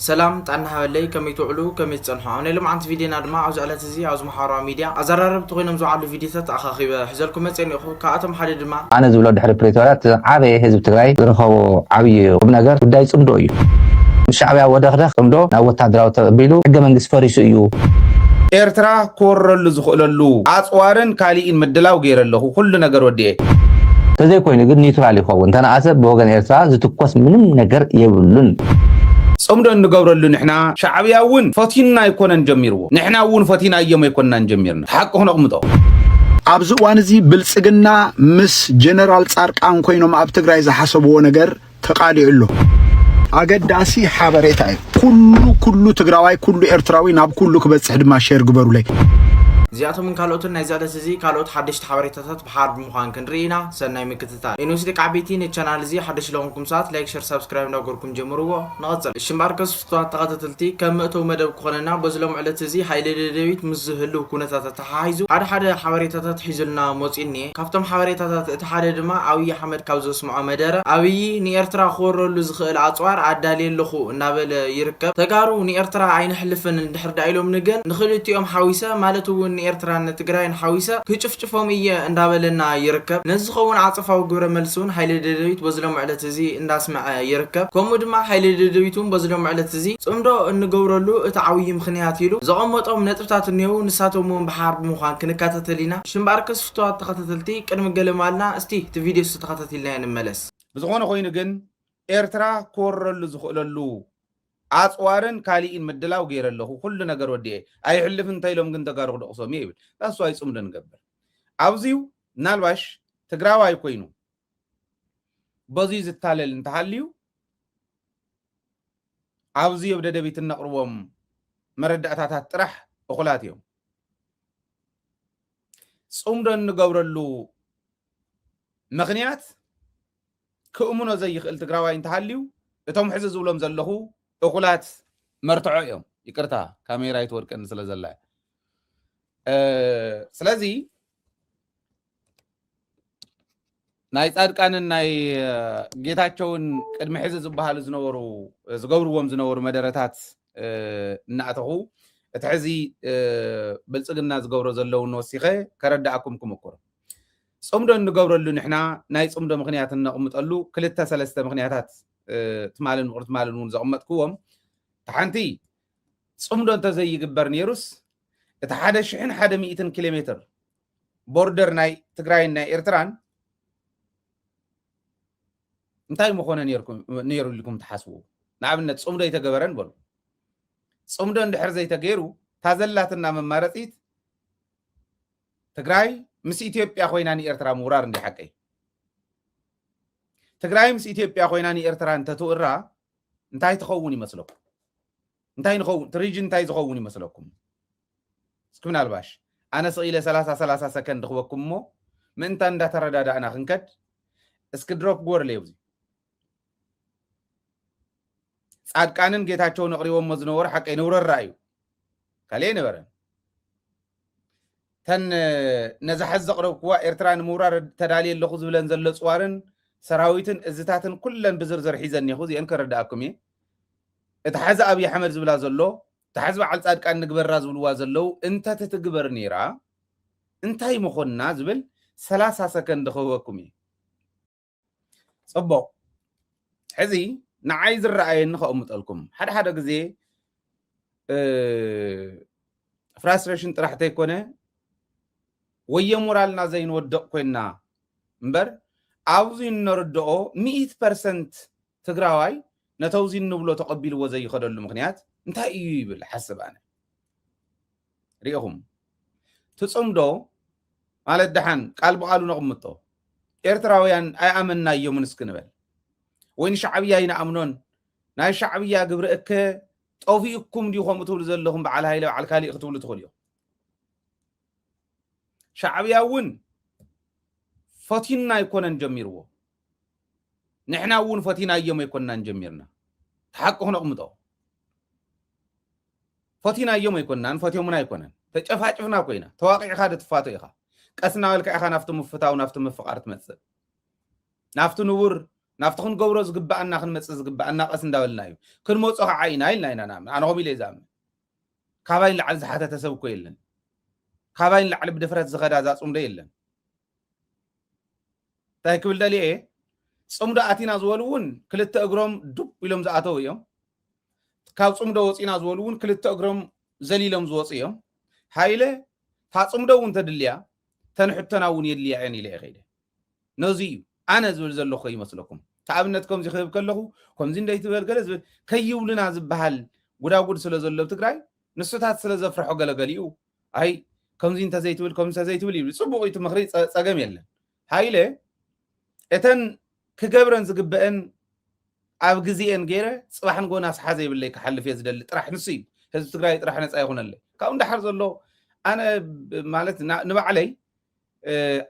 ሰላም ጥዕና ሃበለይ ከመይ ትውዕሉ ከመይ ትጸንሑ ኣብ ናይ ሎምዓንቲ ቪድዮና ድማ ኣብዚ ዕለት እዚ ኣብዚ ማሓበራዊ ሚድያ ኣዛራረብቲ ኮይኖም ዝውዓሉ ቪድዮታት ኣኻኺበ ሕዘልኩም መጽየ እኒኦኹ ካብኣቶም ሓደ ድማ ኣነ ዝብሎ ድሕሪ ፕሪቶርያ እቲ ዝዓበየ ህዝቢ ትግራይ ዝረኸቦ ዓብይ ቁምነገር ጉዳይ ፅምዶ እዩ። ምስ ሻዕብያ ወደኽደኽ ፅምዶ ናብ ወታደራዊ ተቐቢሉ ሕገ መንግስቲ ፈሪሱ እዩ። ኤርትራ ክወረሉ ዝኽእለሉ ኣጽዋርን ካሊእን ምድላው ገይረ ኣለኹ ኩሉ ነገር ወዲኤ። ተዘይኮይኑ ግን ኒውትራል ይኸውን ተነኣሰ ብወገን ኤርትራ ዝትኮስ ምንም ነገር የብሉን። ጽምዶ እንገብረሉ ንሕና ሻዕብያ እውን ፈትዩና ኣይኮነን ጀሚርዎ ንሕና እውን ፈቲናዮም ኣይኮናን ጀሚርና እቲ ሓቂ ክነቕምጦ። ኣብዚ እዋን እዚ ብልፅግና ምስ ጀነራል ፃርቃን ኮይኖም ኣብ ትግራይ ዝሓሰብዎ ነገር ተቃሊዑ ኣሎ። ኣገዳሲ ሓበሬታ እዩ ኩሉ ኩሉ ትግራዋይ ኩሉ ኤርትራዊ ናብ ኩሉ ክበጽሕ ድማ ሼር ግበሩለይ። እዚኣቶምን ካልኦትን ናይዚ ዕለት እዚ ካልኦት ሓደሽቲ ሓበሬታታት ሃርድ ምዃን ክንርኢ ኢና ሰናይ ምክትታል። ኤንዊስ ደቂ ዓበይቲ ነቲ ቻናል እዚ ሓደሽቲ ለኾንኩም ሰባት ላይክ ሸር ሳብስክራይብ እንዳገበርኩም ጀምርዎ ንቐጽል። እሺ እምበኣርከስ ፍቱዋት ተኸታተልቲ ከም መእተዊ መደብ ክኾነና በዚ ሎሚ ዕለት እዚ ሃይለ ደደቢት ምስ ዝህልው ኩነታት ኣተሓሓይዙ ሓደ ሓደ ሓበሬታታት ሒዙልና ሞጺኡ እኒኤ ካብቶም ሓበሬታታት እቲ ሓደ ድማ ኣብይ ኣሕመድ ካብ ዘስምዖ መደረ ኣብይ ንኤርትራ ክወረሉ ዝኽእል ኣጽዋር ኣዳልየ ኣለኹ እናበለ ይርከብ ተጋሩ ንኤርትራ ኣይነሕልፍን እንድሕር ድኣ ኢሎምኒ ግን ንኽልቲኦም ሓዊሰ ማለት እውን ንኤርትራን ንትግራይን ሓዊሰ ክጭፍጭ ክድግፎም እየ እንዳበለና ይርከብ። ነዚ ዝኸውን ዓጸፋዊ ግብረ መልሲ እውን ሓይሊ ደደቢት በዚ ሎሚ ዕለት እዚ እንዳስመዐ ይርከብ። ከምኡ ድማ ሓይሊ ደደቢት እውን በዚ ሎሚ ዕለት እዚ ጽምዶ እንገብረሉ እቲ ዓውዪ ምኽንያት ኢሉ ዘቐመጦም ነጥብታት እኔዉ ንሳቶም እውን ብሓባር ብምዃን ክንከታተል ኢና። እሺ እምበኣርከስ ፍቱዋት ተኸታተልቲ ቅድሚ ገለ ምባልና እስቲ እቲ ቪድዮ እስቲ ተኸታቲልናዮ ንመለስ። ብዝኾነ ኮይኑ ግን ኤርትራ ክወረሉ ዝኽእለሉ ኣጽዋርን ካሊኢን ምድላው ገይረ ኣለኹ ኩሉ ነገር ወዲኤ ኣይሕልፍን እንተኢሎም ግን ተጋሩ ክድቕሶም እየ ይብል that's why ጽምዶ ንገብር ኣብዚዩ ምናልባሽ ትግራዋይ ኮይኑ በዙይ ዝታለል እንተሃልዩ ኣብዚ ኣብ ደደቢት እነቕርቦም መረዳእታታት ጥራሕ እኹላት እዮም ጽምዶ እንገብረሉ ምክንያት ክእምኖ ዘይኽእል ትግራዋይ እንተሃልዩ እቶም ሕዚ ዝብሎም ዘለኹ እኹላት መርትዖ እዮም። ይቅርታ ካሜራ ይትወድቀኒ ስለ ዘላ እያ። እ፣ ስለዚ ናይ ጻድቃንን ናይ እ፣ ጌታቸውን ቅድሚ ሕዚ ዝበሃሉ ዝነበሩ ዝገብርዎም ዝነበሩ መደረታት እ፣ እናእተኹ እቲ ሕዚ እ፣ ብልፅግና ዝገብሮ ዘለውን ወሲኸ ከረዳእኩም ክምኩር ጽምዶ እንገብረሉ ንሕና ናይ ጽምዶ ምኽንያት እነቕምጠሉ ክልተ ሰለስተ ምኽንያታት ትማልን ምቕር ትማልን እውን ዘቕመጥክዎም እቲ ሓንቲ ጽምዶ እንተዘይግበር ነይሩስ እቲ ሓደ ሽሕን ሓደ ሚእትን ኪሎ ሜትር ቦርደር ናይ ትግራይን ናይ ኤርትራን እንታይ ምኾነ ነይሩ ኢልኩም ትሓስቡ ንኣብነት ፅምዶ ይተገበረን በሉ ፅምዶ እንድሕር ዘይተገይሩ ታዘላትና መማረፂት ትግራይ ምስ ኢትዮጵያ ኮይና ንኤርትራ ምውራር እንዲ ሓቀይ ትግራይ ምስ ኢትዮጵያ ኮይና ንኤርትራ እንተትውራ እንታይ ትኸውን ይመስለኩም እንታይ ንኸውን ትሪጅን እንታይ ዝኸውን ይመስለኩም እስኪ ምናልባሽ ኣነ ስኢለ ሰላሳ ሰላሳ ሰከንድ ክበኩም እሞ ምእንታ እንዳተረዳዳእና ክንከድ እስኪ ድሮፕ ጎርለ ኣብዚ ጻድቃንን ጌታቸውን ኣቕሪቦሞ ዝነበሩ ሓቀይ ንውረራ እዩ ካልእ ኣይነበረን። እተን ነዛ ሕዚ ዘቕረብክዋ ኤርትራ ንምውራር ተዳልየ ኣለኹ ዝብለን ዘሎ ፅዋርን ሰራዊትን እዝታትን ኩለን ብዝርዝር ሒዘ እኒኹ እዚአን ከረድኣኩም እየ። እቲ ሓዚ ኣብዪ ኣሕመድ ዝብላ ዘሎ እቲ ሓዚ በዓል ፃድቃን ንግበራ ዝብልዋ ዘለው እንተትትግበር ነይራ እንታይ ምኾንና ዝብል ሰላሳ ሰከንድ ክህበኩም እየ። ፅቡቕ ሕዚ ንዓይ ዝረኣየኒ ከቕምጠልኩም ሓደ ሓደ ግዜ ፍራስትሬሽን ጥራሕ ተይኮነ ወየ ሞራልና ዘይንወደቕ ኮይና እምበር ኣብዚ እነርድኦ ሚእት ፐርሰንት ትግራዋይ ነተውዚ እንብሎ ተቐቢልዎ ዘይኸደሉ ምክንያት እንታይ እዩ ይብል ሓስብ ኣነ ሪኢኹም ትጽምዶ ማለት ደሓን ቃል ብቓሉ ነቕምጦ ኤርትራውያን ኣይኣመናዮምን እስኪ ንበል ወይ ንሻዕብያ ኣይንኣምኖን ናይ ሻዕብያ ግብሪ እከ ጠፊኡኩም ድዩ ከምኡ ትብሉ ዘለኹም በዓል ሃይለ በዓል ካሊእ ክትብሉ ትኽእሉ እዮም ሻዕብያ እውን ፈቲና ኣይኮነን ጀሚርዎ ንሕና እውን ፈቲናዮም ኣይኮናን ጀሚርና ተሓቂ ክነቕምጦ ፈቲናዮም ኣይኮናን ፈትዮሙና ኣይኮነን ተጨፋጭፍና ኮይና ተዋቂዕካ ዶ ትፋቶ ኢኻ ቀስ እናበልካ ኢኻ ናብቲ ምፍታው ናብቲ ምፍቃር ትመፅእ ናብቲ ንቡር ናብቲ ክንገብሮ ዝግባኣና ክንመፅእ ዝግባኣና ቀስ እንዳበልና እዩ ክንመፆ ከዓ ኢና ኢልና ኢና ንኣምን ኣነ ከምኡ ኢለ ዝኣምን ካባይ ንላዕሊ ዝሓተተ ሰብ እኮ የለን ካባይ ንላዕሊ ብድፍረት ዝኸዳ እዛ ፅምዶ የለን እንታይ ክብል ደልየ እየ ፅምዶ ኣቲና ዝበሉ እውን ክልተ እግሮም ዱብ ኢሎም ዝኣተው እዮም ካብ ፅምዶ ወፂና ዝበሉ እውን ክልተ እግሮም ዘሊሎም ዝወፁ እዮም ሃይለ እታ ፅምዶ እውን ተድልያ ተንሕቶና እውን የድልያ እየን ኢለ እየ ከይደ ነዚ እዩ ኣነ ዝብል ዘለኹ ይመስለኩም ተኣብነት ከምዚ ክህብ ከለኹ ከምዚ እንደይ ትበል ገለ ዝብል ከይብሉና ዝበሃል ጉዳጉድ ስለ ዘሎ ትግራይ ንሱታት ስለ ዘፍርሖ ገለገሊኡ ኣይ ከምዚ እንተዘይትብል ከምዚ እንተዘይትብል ይብል ፅቡቅ እቲ ምክሪ ፀገም የለን ሃይለ እተን ክገብረን ዝግበአን ኣብ ግዜኤን ገይረ ፅባሕ ንጎ ናስሓ ዘይብለይ ክሓልፍ እየ ዝደሊ ጥራሕ ንሱ እዩ ህዝቢ ትግራይ ጥራሕ ነፃ ይኹነለይ ካብኡ እንዳሓር ዘሎ ኣነ ማለት ንባዕለይ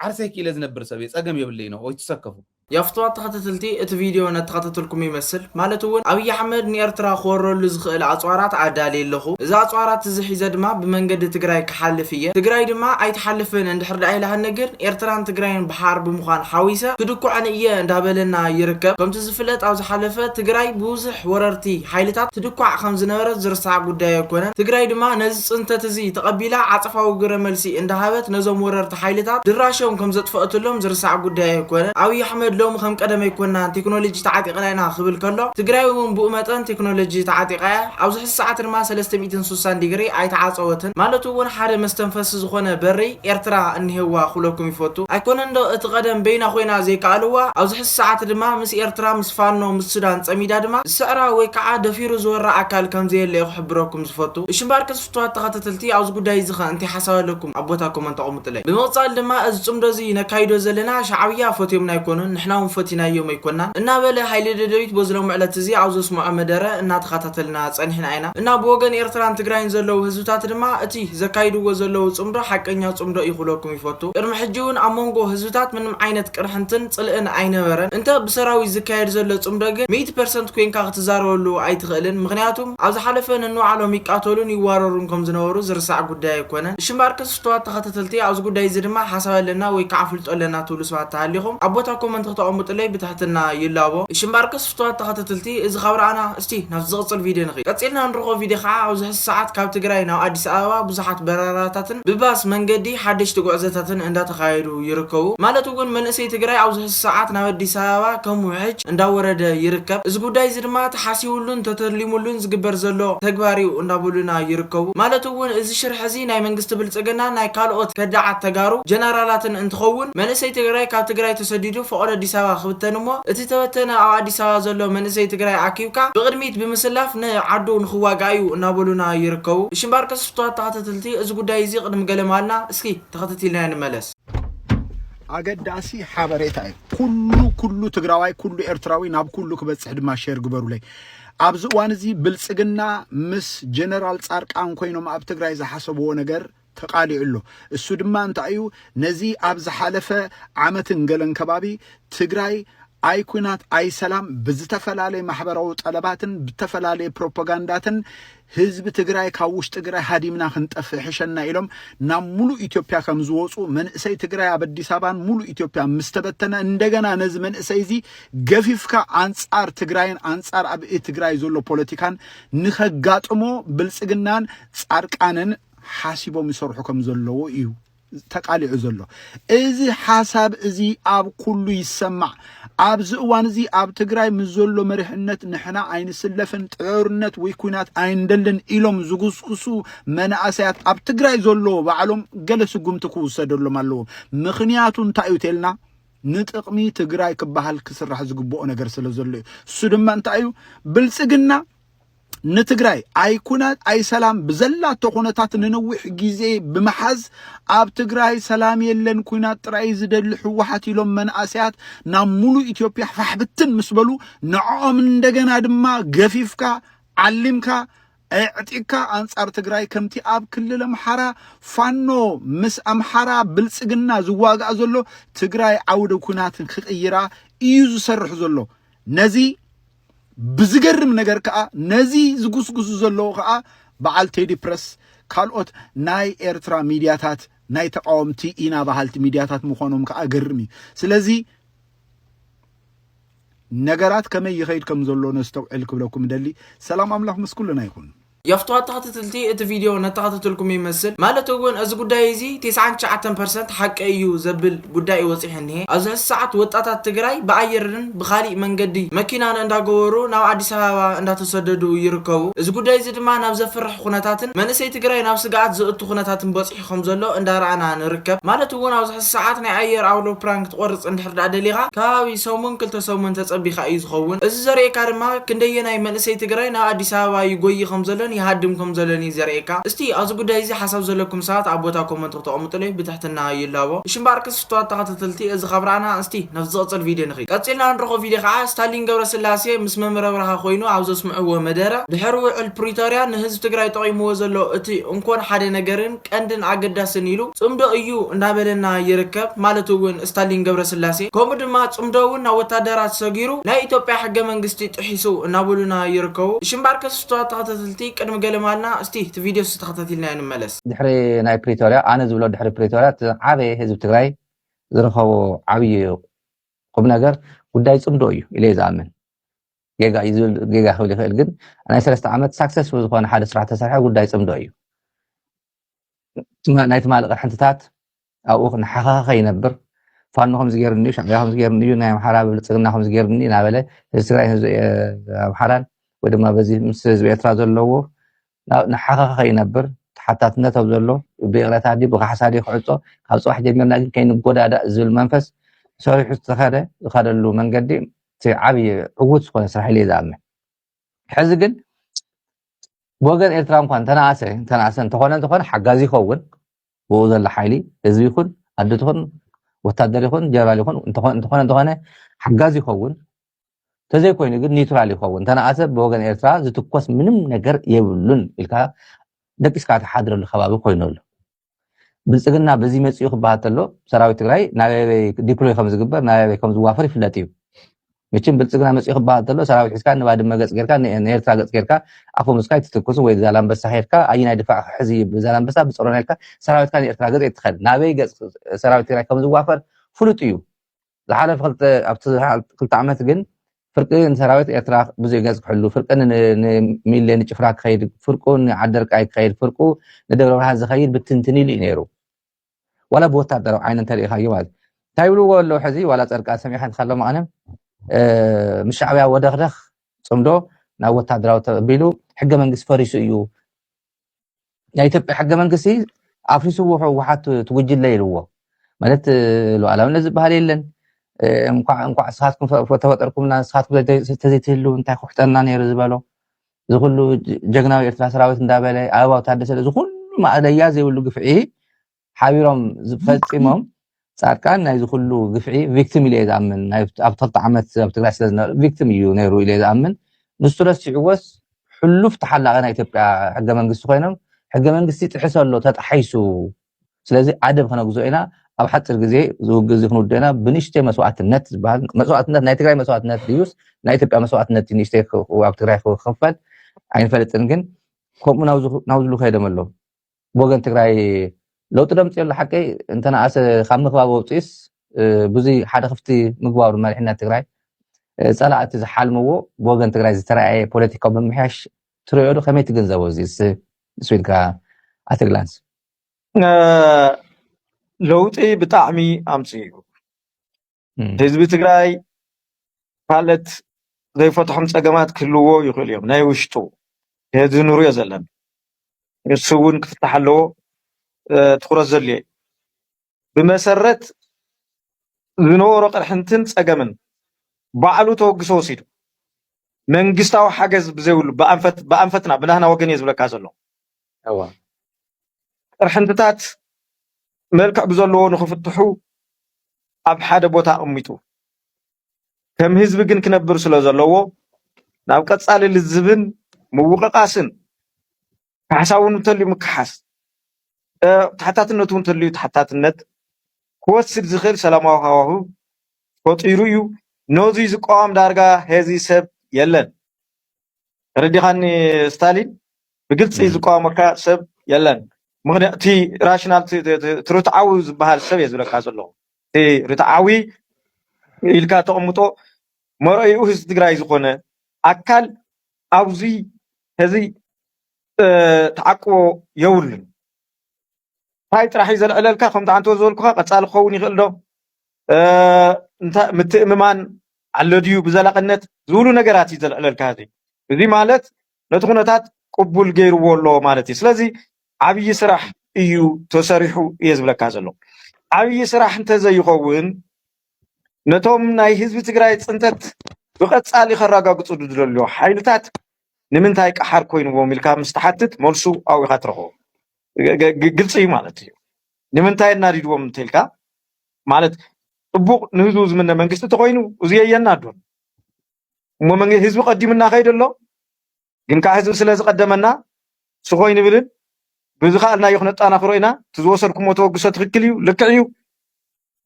ዓርሰይ ክኢለ ዝነብር ሰብ እየ ጸገም የብለይን ኦው ኣይትሰከፉ። ያፍትዋት ተኸታተልቲ እቲ ቪድዮ ነተኸታተልኩም ይመስል ማለት እውን ኣብይ ኣሕመድ ንኤርትራ ክወረሉ ዝኽእል ኣጽዋራት ኣዳልየ ኣለኹ እዚ ኣጽዋራት እዚ ሒዘ ድማ ብመንገዲ ትግራይ ክሓልፍ እየ ትግራይ ድማ ኣይትሓልፍን እንድሕር ድኣ ኢላትኒ ግን ኤርትራን ትግራይን ብሓር ብምዃን ሓዊሰ ክድኩዐን እየ እንዳበለና ይርከብ ከምቲ ፍለጥ ኣብ ዝሓለፈ ትግራይ ብብዙሕ ወረርቲ ሓይልታት ትድኳዕ ከም ዝነበረት ዝርሳዕ ጉዳይ ኣይኮነን። ትግራይ ድማ ነዚ ፅንተት እዚ ተቐቢላ ዓፀፋዊ ግብረ መልሲ እንዳሃበት ነዞም ወረርቲ ሓይልታት ድራሾም ከም ዘጥፈእትሎም ዝርሳዕ ጉዳይ ኣይኮነን። ኣብይ ኣሕመድ ሎሚ ከም ቀደም ኣይኮናን ቴክኖሎጂ ተዓጢቕና ኢና ክብል ከሎ ትግራይ እውን ብኡ መጠን ቴክኖሎጂ ተዓጢቓ እያ። ኣብዚ ሕዚ ሰዓት ድማ ሰለስተ ሚእትን ሱሳን ዲግሪ ኣይተዓፀወትን። ማለቱ እውን ሓደ መስተንፈሲ ዝኾነ በሪ ኤርትራ እኒሀዋ ክብለኩም ይፈቱ። ኣይኮነን ዶ እቲ ቀደም በይና ኮይና ዘይከኣልዋ ኣብዚ ሰዓት ድማ ምስ ኤርትራ ምስ ፋኖ ምስ ሱዳን ጸሚዳ ድማ ዝስዕራ ወይ ክዓ ደፊሩ ዝወራ ኣካል ከምዘየለዩ ክሕብረኩም ዝፈቱ እሺ እምበኣርከስ ፍቱዋት ተኸተተልቲ ኣብዚ ጉዳይ እዚ ከ እንታይ ሓሳብ ኣለኩም ኣብ ቦታ ኮመንት ኣቁሙጥለይ ብምቅጻል ድማ እዚ ጽምዶ እዚ ነካይዶ ዘለና ሻዕብያ ፈትዮምና ኣይኮኑን ንሕና ውን ፈቲናዮም ኣይኮናን እና በለ ሃይለ ደደቢት በዚ ሎሚ ዕለት እዚ ኣብ ዘስመዖ መደረ እና ተኻታተልና ጸኒሕና ኢና እና ብወገን ኤርትራን ትግራይን ዘለዉ ህዝብታት ድማ እቲ ዘካይድዎ ዘለዉ ጽምዶ ሓቀኛ ጽምዶ እዩ ክብለኩም ይፈቱ ቅድሚ ሕጂ ውን ኣብ ሞንጎ ህዝብታት ምንም ዓይነት ቅርሕንትን ጽልእን ኣይነበረን። እንተ ብሰራዊት ዝካየድ ዘሎ ጽምዶ ግን ሚእቲ ፐርሰንት ኮይንካ ክትዛረበሉ ኣይትኽእልን። ምኽንያቱም ኣብ ዝሓለፈ ነንባዕሎም ይቃተሉን ይዋረሩን ከም ዝነበሩ ዝርሳዕ ጉዳይ ኣይኮነን። እሺ እምበኣርከስ ፍቱዋት ተኸታተልቲ ኣብዚ ጉዳይ እዚ ድማ ሓሳብ ኣለና ወይ ክዓ ኣፍልጦ ኣለና ትብሉ ሰባት ተሃሊኹም ኣብ ቦታ ኮመንት ክተቐምጡለይ ብትሕትና ይላቦ። እሺ እምበኣርከስ ፍቱዋት ተኸታተልቲ እዚ ካብ ረኣና። እስቲ ናብቲ ዝቕጽል ቪድዮ ንኺድ። ቀጺልና እንረኽቦ ቪድዮ ከኣ ኣብዚ ሕዚ ሰዓት ካብ ትግራይ ናብ ኣዲስ ኣበባ ብዙሓት በረራታትን ብባስ መንገዲ ሓደሽቲ ጉዕዘታትን እንዳተኻየዱ ይርከቡ ማለት እውን መንእሰይ ትግራይ ኣብዚ ሕዚ ሰዓት ናብ ኣዲስ ኣበባ ከም ውሕጅ እንዳወረደ ይርከብ እዚ ጉዳይ እዚ ድማ ተሓሲቡሉን ተተሊሙሉን ዝግበር ዘሎ ተግባር እዩ እንዳበሉና ይርከቡ ማለት እውን እዚ ሽርሒ እዚ ናይ መንግስቲ ብልጽግናን ናይ ካልኦት ከዳዓት ተጋሩ ጀነራላትን እንትኸውን መንእሰይ ትግራይ ካብ ትግራይ ተሰዲዱ ፍቅሪ ኣዲስ ኣበባ ክብተን እሞ እቲ ተበተነ ኣብ ኣዲስ ኣበባ ዘሎ መንእሰይ ትግራይ ኣኪብካ ብቅድሚት ብምስላፍ ን ዓዱ ንክዋጋእ እዩ እናበሉና ይርከቡ እሺ እምበር ቅስፍቷት ተከታተልቲ እዚ ጉዳይ እዚ ቅድሚ ገለ ማልና እስኪ ተከተቲልና ንመለስ። ኣገዳሲ ሓበሬታ እዩ ኩሉ ኩሉ ትግራዋይ ኩሉ ኤርትራዊ ናብ ኩሉ ክበፅሕ ድማ ሼር ግበሩለይ ኣብዚ እዋን እዚ ብልፅግና ምስ ጀነራል ፃርቃን ኮይኖም ኣብ ትግራይ ዝሓሰብዎ ነገር ተቃሊዑ ኣሎ። እሱ ድማ እንታይ እዩ ነዚ ኣብ ዝሓለፈ ዓመትን ገለን ከባቢ ትግራይ ኣይ ኩናት ኣይ ሰላም ብዝተፈላለየ ማሕበራዊ ጠለባትን ብተፈላለየ ፕሮፖጋንዳትን ህዝቢ ትግራይ ካብ ውሽጢ ትግራይ ሃዲምና ክንጠፍእ ሕሸና ኢሎም ናብ ሙሉእ ኢትዮጵያ ከም ዝወፁ መንእሰይ ትግራይ ኣብ ኣዲስ ኣበባን ሙሉእ ኢትዮጵያ ምስ ተበተነ እንደገና ነዚ መንእሰይ እዚ ገፊፍካ ኣንፃር ትግራይን ኣንፃር ኣብ ትግራይ ዘሎ ፖለቲካን ንኸጋጥሞ ብልፅግናን ፃድቃንን ሓሲቦም ይሰርሑ ከም ዘለዉ እዩ ተቃሊዑ ዘሎ እዚ ሓሳብ እዚ ኣብ ኩሉ ይሰማዕ ኣብዚ እዋን እዚ ኣብ ትግራይ ምስ ዘሎ መሪሕነት ንሕና ኣይንስለፍን ጥዕርነት ወይ ኩናት ኣይንደልን ኢሎም ዝጉስጉሱ መናእሰያት ኣብ ትግራይ ዘለዎ ባዕሎም ገለ ስጉምቲ ክውሰደሎም ኣለዎ ምክንያቱ እንታይ እዩ ተልና ንጥቕሚ ትግራይ ክበሃል ክስራሕ ዝግብኦ ነገር ስለ ዘሎ እዩ እሱ ድማ እንታይ እዩ ብልፅግና ንትግራይ ኣይኩነ ኣይሰላም ብዘላቶ ኩነታት ንንዊሕ ግዜ ብምሓዝ ኣብ ትግራይ ሰላም የለን ኩናት ጥራይ ዝደሊ ሕወሓት ኢሎም መንእሰያት ናብ ሙሉእ ኢትዮጵያ ፋሕብትን ምስ በሉ ንዕኦም እንደገና ድማ ገፊፍካ ዓሊምካ ኣዕጢካ ኣንጻር ትግራይ ከምቲ ኣብ ክልል ኣምሓራ ፋኖ ምስ ኣምሓራ ብልጽግና ዝዋጋእ ዘሎ ትግራይ ዓውደ ኩናት ክቕይራ እዩ ዝሰርሕ ዘሎ ነዚ ብዝገርም ነገር ከዓ ነዚ ዝጉስጉሱ ዘለዉ ከዓ በዓል ቴዲ ፕረስ ካልኦት ናይ ኤርትራ ሚድያታት ናይ ተቃወምቲ ኢና በሃልቲ ሚድያታት ምዃኖም ከዓ ገርም እዩ ስለዚ ነገራት ከመይ ይኸይድ ከም ዘሎ ነስተውዕል ክብለኩም ደሊ ሰላም ኣምላኽ ምስ ኩልና ይኹን የኽቱ ኣተኻተትልቲ እቲ ቪድዮ ነተኻተትልኩም ይመስል ማለት እውን እዚ ጉዳይ እዚ ቴስዓን ትሽዓተን ፐርሰንት ሓቂ እዩ ዘብል ጉዳይ እዩ ወፂሑ እኒሀ ኣብዚ ሕዚ ሰዓት ወጣታት ትግራይ ብኣየርርን ብኻሊእ መንገዲ መኪናን እንዳገበሩ ናብ ኣዲስ ኣበባ እንዳተሰደዱ ይርከቡ እዚ ጉዳይ እዚ ድማ ናብ ዘፍርሕ ኹነታትን መንእሰይ ትግራይ ናብ ስግኣት ዘእቱ ኹነታትን በፂሑ ከም ዘሎ እንዳ ራኣና ንርከብ ማለት እውን ኣብዚ ሕዚ ሳዓት ናይ ኣየር ኣውሎ ፕራን ክትቆርጽ እንድሕር ዳኣ ደሊኻ ከባቢ ሰሙን ክልተ ሰሙን ተጸቢካ እዩ ዝኸውን እዚ ዘርእየካ ድማ ክንደየናይ መንእሰይ ትግራይ ናብ ኣዲስ ኣበባ ይጎዪ ከም ዘሎን ይሃድም ከም ዘሎን እዩ ዘርእየካ እስቲ ኣብዚ ጉዳይ እዚ ሓሳብ ዘለኩም ሰባት ኣብ ቦታ ኮመንት ክተቀምጡለይ ብትሕትና ይላቦ እሺ እምባኣር ክብርትዋ ተኸታተልቲ እዚ ካብ ራእና እስቲ ናብቲ ዝቕጽል ቪድዮ ንኺድ። ቀጺልና እንረኽቦ ቪድዮ ከኣ ስታሊን ገብረስላሴ ምስ መምህር ኣብርሃ ኮይኑ ኣብ ዘስምዕዎ መደረ ድሕሪ ውዕል ፕሪቶርያ ንህዝቢ ትግራይ ጠቒምዎ ዘሎ እቲ እንኮን ሓደ ነገርን ቀንድን ኣገዳስን ኢሉ ጽምዶ እዩ እናበለና ይርከብ ማለት እውን ስታሊን ገብረስላሴ ከምኡ ድማ ጽምዶ እውን ናብ ወታደራት ሰጊሩ ናይ ኢትዮጵያ ሕገ መንግስቲ ጥሒሱ እናበሉና ይርከቡ። እሺ እምበኣር ከስብትዋ ተኸታተልቲ ቅድሚ ገለ ምባልና እስቲ እቲ ቪድዮ እስቲ ተኸታቲልናዮ ንመለስ። ድሕሪ ናይ ፕሪቶርያ ኣነ ዝብሎ ድሕሪ ፕሪቶርያ እቲ ዝዓበየ ህዝቢ ትግራይ ዝረኸቦ ዓብዪ ቁምነገር ጉዳይ ፅምዶ እዩ ኢለ እየ ዝኣምን። ጌጋ እዩ ዝብል ጌጋ ክብል ይኽእል፣ ግን ናይ ሰለስተ ዓመት ሳክሰስፉል ዝኾነ ሓደ ስራሕ ተሰርሐ ጉዳይ ፅምዶ እዩ። ናይ ትማሊ ቅርሕንትታት ኣብኡ ክነሓኸኸ ከይነብር ፋኖ ከምዚ ገይሩኒ እዩ፣ ሻዕብያ ከምዚ ገይሩኒ እዩ፣ ናይ ኣምሓራ ብልጽግና ከምዚ ገይሩኒ እናበለ ህዝቢ ትግራይን ህዝቢ ኣምሓራን ወይ ድማ በዚ ምስ ህዝቢ ኤርትራ ዘለዎ ንሓኸኸ ከይነብር ተሓታትነት ኣብ ዘሎ ብይቕረታ ድዩ ብካሕሳ ድዩ ክዕፆ ካብ ፅባሕ ጀሚርና ግን ከይንጎዳዳእ ዝብል መንፈስ ሰሪሑ ዝተኸደ ዝኸደሉ መንገዲ እቲ ዓብዪ ዕውት ዝኾነ ስራሕ ኢለ ዝኣምን ሕዚ ግን ብወገን ኤርትራ እንኳን ተናእሰ ተናእሰ እንተኾነ እንተኾነ ሓጋዚ ይኸውን ብኡ ዘሎ ሓይሊ ህዝቢ ይኹን ኣዲ ትኹን ወታደር ይኹን ጀነራል ይኹን እንተኾነ እንተኾነ ሓጋዚ ይኸውን ተዘይኮይኑ ግን ኒውትራል ይኸውን ተነኣሰ ብወገን ኤርትራ ዝትኮስ ምንም ነገር የብሉን ኢልካ ደቂስካ ተሓድረሉ ከባቢ ኮይኑ ኣሎ ብልፅግና በዚ መፅኡ ክበሃል ተሎ ሰራዊት ትግራይ ናበበይ ዲፕሎይ ከም ዝግበር ናበበይ ከም ዝዋፈር ይፍለጥ እዩ መቸም ብልጽግና መጺኡ ክበሃል ተሎ ሰራዊት ሒዝካ ንባድመ ገጽ ጌርካ ንኤርትራ ገጽ ጌርካ ኣፈሙዝካ ኣይትትኩስን ወይ ዛላምበሳ ኬድካ ኣይናይ ድፋዕ ክሕዝ ኢዩ ብዛላምበሳ ብጾሮና ኢልካ ሰራዊትካ ንኤርትራ ገጽ ኣይትኸድ ናበይ ገጽ ሰራዊት ትግራይ ከም ዝዋፈር ፍሉጥ ኢዩ ዝሓለፈ ክልተ ኣብቲ ክልተ ዓመት ግን ፍርቂ ንሰራዊት ኤርትራ ብዙሕ ገጽ ክሕሉ ፍርቂ ንሚሌ ንጭፍራ ክኸይድ ፍርቁ ንዓደርቃይ ክኸይድ ፍርቁ ንደብረ ብርሃን ዝኸይድ ብትንትን ኢሉ እዩ ነይሩ ዋላ ብወታደራዊ ዓይነ እንተሪኢኻዮ ማለት እዩ እንታይ ይብልዎ ኣለዉ ሕዚ ዋላ ፀድቃን ሰሚዕካ እንተካሎ መቐነ ምስ ሻዕብያ ወደኽደኽ ፅምዶ ናብ ወታደራዊ ተቢሉ ሕገ መንግስቲ ፈሪሱ እዩ ናይ ኢትዮጵያ ሕገ መንግስቲ ኣፍሪስዎ ህወሓት ትጉጅለ ኢልዎ ማለት ሉዓላዊነት ዝበሃል የለን እንኳዕ ንስኻትኩም ተፈጠርኩምና ንስኻትኩም ተዘይትህልው እንታይ ኩሕጠና ነይሩ ዝበሎ እዚ ኩሉ ጀግናዊ ኤርትራ ሰራዊት እንዳበለ ኣበባው ታደሰ እዚ ኩሉ ማእለያ ዘይብሉ ግፍዒ ሓቢሮም ፈጺሞም ጻድቃን ናይዚ ኩሉ ግፍዒ ቪክቲም ኢለ ዝኣምን ናይ ኣብ ክልተ ዓመት ኣብ ትግራይ ስለ ዝነበረ ቪክቲም እዩ ነይሩ ኢለ ዝኣምን ንሱ ረሲዕዎስ ሕሉፍ ተሓላቒ ናይ ኢትዮጵያ ሕገ መንግስቲ ኮይኖም ሕገ መንግስቲ ጥሕሰ ኣሎ ተጣሒሱ ስለዚ ዓደብ ከነግዝኦ ኢና ኣብ ሓጺር ግዜ እዚ ውግእ እዚ ክንውድእ ኢና ብንሽተይ መስዋእትነት ዝበሃል መስዋእትነት ናይ ትግራይ መስዋእትነት ድዩስ ናይ ኢትዮጵያ መስዋእትነት እዩ ንእሽተይ ኣብ ትግራይ ክኽፈል ኣይንፈልጥን ግን ከምኡ ናብ ዝሉ ከይዶም ኣሎ ብወገን ትግራይ ለውጢ ደምፂ ኣሎ ሓቀይ እንተነኣሰ ካብ ምክባብ ወብፂስ ብዙ ሓደ ክፍቲ ምግባሩ መሪሕነት ትግራይ ፀላእቲ ዝሓልምዎ ብወገን ትግራይ ዝተረኣየ ፖለቲካዊ ምምሕያሽ ትሪኦዶ ከመይ ትግንዘቦ እዚ ስዊድካ ኣትግላንስ። ለውጢ ብጣዕሚ ኣምፂኡ ህዝቢ ትግራይ ካልኦት ዘይፈትሖም ፀገማት ክህልዎ ይኽእሉ እዮም ናይ ውሽጡ እዚ ንሪኦ ዘለና ንሱ እውን ክፍታሕ ኣለዎ ትኹረት ዘድልዮ እዩ። ብመሰረት ዝነበሮ ቅርሕንትን ፀገምን ባዕሉ ተወግሶ ወሲዱ መንግስታዊ ሓገዝ ብዘይብሉ ብኣንፈትና ብናህና ወገን እየ ዝብለካ ዘሎ ቅርሕንትታት መልክዕ ብዘለዎ ንክፍትሑ ኣብ ሓደ ቦታ ኣቕሚጡ ከም ህዝቢ ግን ክነብር ስለ ዘለዎ ናብ ቀፃሊ ልዝብን ምውቕቓስን ካሕሳ እውን እንተልዩ ምክሓስ፣ ተሓታትነት እውን እንተልዩ ተሓታትነት ክወስድ ዝኽእል ሰላማዊ ሃዋህው ፈጢሩ እዩ። ነዙይ ዝቋወም ዳርጋ ሔዚ ሰብ የለን። ተረዲኻኒ ስታሊን? ብግልፂ ዝቋወመካ ሰብ የለን። ምኽንያቱ እቲ ራሽናል እቲ ርትዓዊ ዝበሃል ሰብ እየ ዝብለካ ዘለኹ። እቲ ርትዓዊ ኢልካ ተቕምጦ መርኣይኡ ህዝቢ ትግራይ ዝኾነ ኣካል ኣብዚ ሕዚ ተዓቅቦ የብሉን። እንታይ ጥራሕ እዩ ዘልዕለልካ ከም ትዓንተቦ ዝበልኩኻ ቀፃሊ ክኸውን ይኽእል ዶ ምትእምማን ኣሎ ድዩ ብዘላቕነት ዝብሉ ነገራት እዩ ዘልዕለልካ እዚ እዚ ማለት ነቲ ኩነታት ቅቡል ገይርዎ ኣሎ ማለት እዩ ስለዚ ዓብዪ ስራሕ እዩ ተሰሪሑ እየ ዝብለካ ዘሎ ዓብዪ ስራሕ እንተዘይኸውን ነቶም ናይ ህዝቢ ትግራይ ፅንተት ብቐፃሊ ከረጋግፁ ዝደልዩ ሓይልታት ንምንታይ ቀሓር ኮይንዎም ኢልካ ምስ ትሓትት መልሱ ኣብኡ ኢኻ ትረኽቦ። ግ- ግ- ግልፂ እዩ ማለት እዩ። ንምንታይ እናዲድዎም እንተኢልካ ማለት ፅቡቕ ንህዝቡ ዝምነ መንግስቲ ተኾይኑ እዚ የየናዶን እሞ መንግ- ህዝቢ ቀዲሙና ከይደ ኣሎ ግን ከኣ ህዝቢ ስለ ዝቀደመና ስቅ ኣይንብልን ብዝከኣልናዮ ክነጣናክሮ ኢና እቲ ዝወሰድኩሞ ተበግሶ ትክክል እዩ ልክዕ እዩ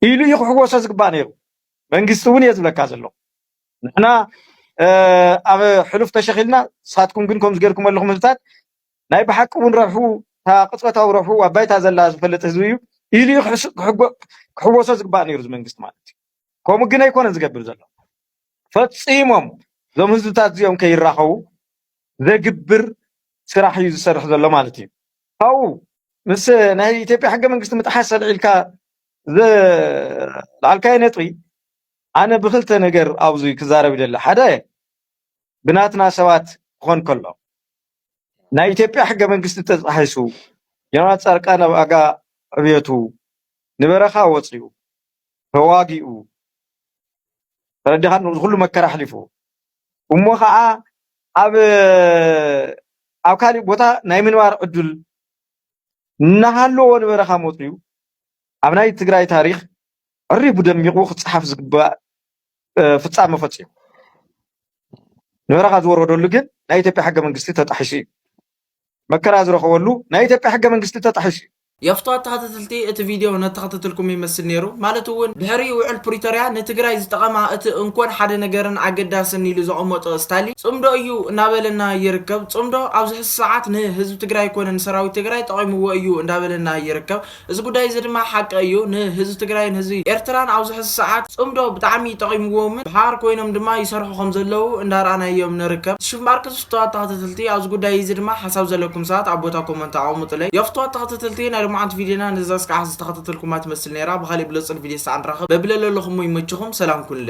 ኢሉ እዩ ክሕወሶ ዝግባእ ነይሩ መንግስቲ እውን እየ ዝብለካ ዘለኩ ንሕና ኣብ ሕሉፍ ተሸኺልና ንሳትኩም ግን ከምዚ ገርኩም ኣለኹም ህዝብታት ናይ ብሓቂ እውን ረብሑ እታ ቅፅበታዊ ረብሑ ኣብ ባይታ ዘላ ዝፈልጥ ህዝቢ እዩ ኢሉ እዩ ክሕወሶ ዝግባእ ነይሩ እዚ መንግስቲ ማለት እዩ ከምኡ ግን ኣይኮነን ዝገብር ዘሎ ፈጺሞም እዞም ህዝብታት እዚኦም ከይራኸቡ ዘግብር ስራሕ እዩ ዝሰርሕ ዘሎ ማለት እዩ። ካብኡ ምስ ናይ ኢትዮጵያ ሕገ መንግስቲ ምጥሓስ ኣልዒልካ ዘልዓልካዮ ነጥቢ ኣነ ብክልተ ነገር ኣብዚ ክዛረብ ይደሊ ሓደ ብናትና ሰባት ክኾን ከሎ ናይ ኢትዮጵያ ሕገ መንግስቲ ተጣሒሱ ጀነራል ፃድቃን ኣብ ኣጋ ዕብየቱ ንበረኻ ወፂኡ ተዋጊኡ ተረዲኻኒ እዚ ኩሉ መከራ ኣሕሊፉ እሞ ከዓ ኣብ ኣብ ካሊእ ቦታ ናይ ምንባር ዕዱል እናሃለዎ ንበረኻ መፅዩ ኣብ ናይ ትግራይ ታሪኽ ዕሪቡ ደሚቑ ክፀሓፍ ዝግባእ ፍፃመ ፈፂሙ ንበረኻ ዝወረደሉ ግን ናይ ኢትዮጵያ ሕገ መንግስቲ ተጣሒሱ እዩ። መከራ ዝረኸበሉ ናይ ኢትዮጵያ ሕገ መንግስቲ ተጣሒሱ እዩ። የፍትዋ ተኸተተልቲ እቲ ቪድዮ ነተኸተተልኩም ይመስል ነይሩ ማለት እውን ድሕሪ ውዕል ፕሪቶርያ ንትግራይ ዝጠቐማ እቲ እንኮን ሓደ ነገርን ኣገዳስን ኢሉ ዘቐመጦ እስታሊ ፅምዶ እዩ እናበለና ይርከብ ፅምዶ ኣብዝሕዚ ሰዓት ንህዝቢ ትግራይ ኮነ ንሰራዊት ትግራይ ጠቒምዎ እዩ እንዳበለና ይርከብ እዚ ጉዳይ እዚ ድማ ሓቂ እዩ ንህዝቢ ትግራይን ህዝቢ ኤርትራን ኣብዚ ሕዚ ሰዓት ፅምዶ ብጣዕሚ ጠቂምዎምን ብሓባር ኮይኖም ድማ ይሰርሑ ከም ዘለዉ እንዳረኣናዮም ንርከብ ትሽምባርክ ዝፍተዋት ተከተተልቲ ኣብዚ ጉዳይ እዚ ድማ ሓሳብ ዘለኩም ሰባት ኣብ ቦታ ኮመንት ኣቀሙጡለይ የፍትዋት ተከተተልቲ ናይ ሎማዓንቲ ቪድዮና ነዛ እስካዕ ሕዚ ዝተከታተልኩማ ትመስል ነይራ ብካሊእ ብለፁን ቪድዮ ሳዕ ንራከብ በብለለለኩሞ ይመችኩም ሰላም ኩኑለይ።